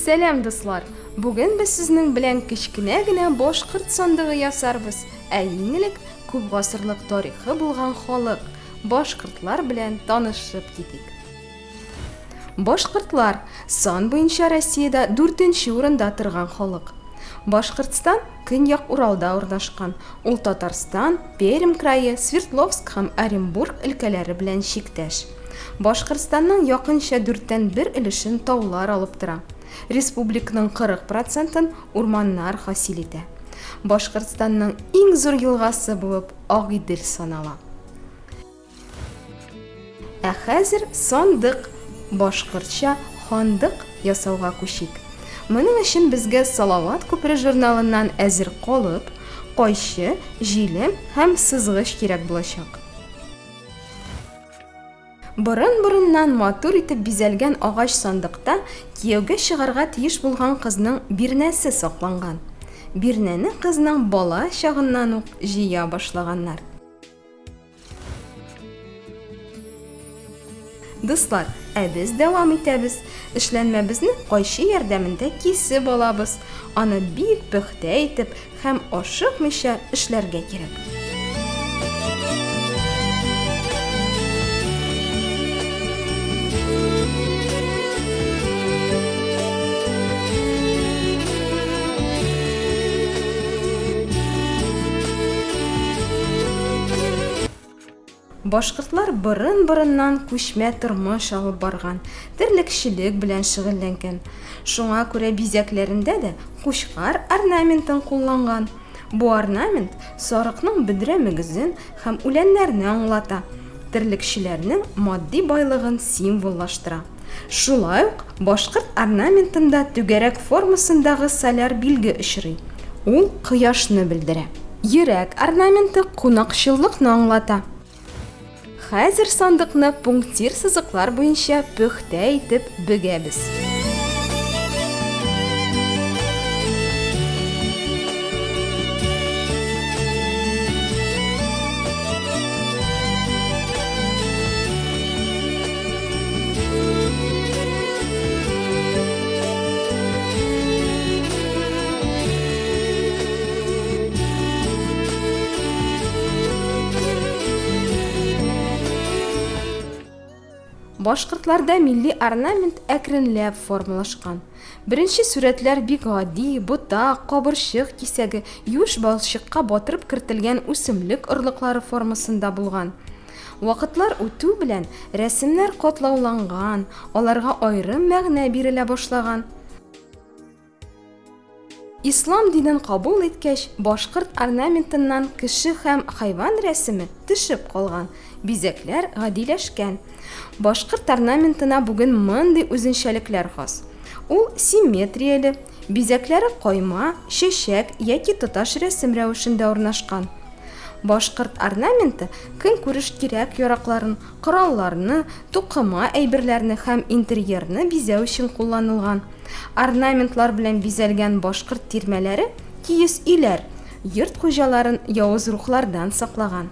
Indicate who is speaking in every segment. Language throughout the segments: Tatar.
Speaker 1: Сәлам дуслар! Бүген без сезнең белән кечкенә генә башкорт сандыгы ясарбыз. Ә иң элек күп гасырлык тарихы булган халык башкортлар белән танышып китик. Башкортлар, сан буенча Россиядә дүртенче урында торган халык. Башкортстан Көньяк Уралда урнашкан, ул Татарстан, Пермь крае, Свердловск һәм Оренбург өлкәләре белән чиктәш. Башкортстанның якынча дүрттән бер өлешен таулар алып тора. Республикның 40 процентын урманнар хасил итә. Башкортстанның иң зур елгасы булып Агыйдел санала. Ә хәзер сандык, башкортча хандык ясауга күчик. Моның өчен безгә Салават күпере журналыннан әзер колып, кайчы, җилем һәм сызгыч кирәк булачак. Борын-борыннан матур итеп бизәлгән агач сандыкта кияүгә чыгарга тиеш булган кызның бирнәсе сакланган. Бирнәне кызның бала чагыннан ук җыя башлаганнар. Дуслар, ә без дәвам итәбез. Эшләнмәбезне кайчы ярдәмендә кисеп алабыз. Аны бик пөхтә итеп һәм ашыкмыйча эшләргә кирәк. Башкортлар борын-борыннан күчмә тормыш алып барган, терлекчелек белән шөгыльләнгән. Шуңа күрә бизәкләрендә дә кучкар орнаментын кулланган. Бу орнамент сарыкның бөдрә мөгезен һәм үләннәрне аңлата, терлекчеләрнең матди байлыгын символлаштыра. Шулай ук башкорт орнаментында түгәрәк формасындагы соляр билге очрый. Ул кояшны белдерә. Йөрәк орнаменты кунакчыллыкны аңлата. Хәзер сандыкны пунктир сызыклар буенча пөхтә итеп бөгәбез. Башкортларда милли орнамент әкренләп формалашкан. Беренче сурәтләр бик гади, ботак, кабырчык кисәге, юш балчыкка батырып кертелгән үсемлек орлыклары формасында булган. Вакытлар үтү белән рәсемнәр катлауланган, аларга аерым мәгънә бирелә башлаган. Ислам динен кабул иткәч, башкорт орнаментыннан кеше һәм хайван рәсеме төшеп калган, бизәкләр гадиләшкән. Башкорт орнаментына бүген мондый үзенчәлекләр хас. Ул симметрияле, Бизәкләре койма, чәчәк яки тоташ рәсем рәвешендә урнашкан. Башкорт орнаменты көнкүреш кирәк-яракларын, коралларны, тукыма әйберләрне һәм интерьерны бизәү өчен кулланылган. Орнаментлар белән бизәлгән башкорт тирмәләре, киез өйләр, йорт хуҗаларын явыз рухлардан саклаган.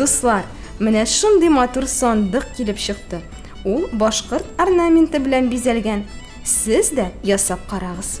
Speaker 1: Дуслар, менә шундый матур сандык килеп чыкты. Ул башкорт орнаменты белән бизәлгән. Сез дә ясап карагыз.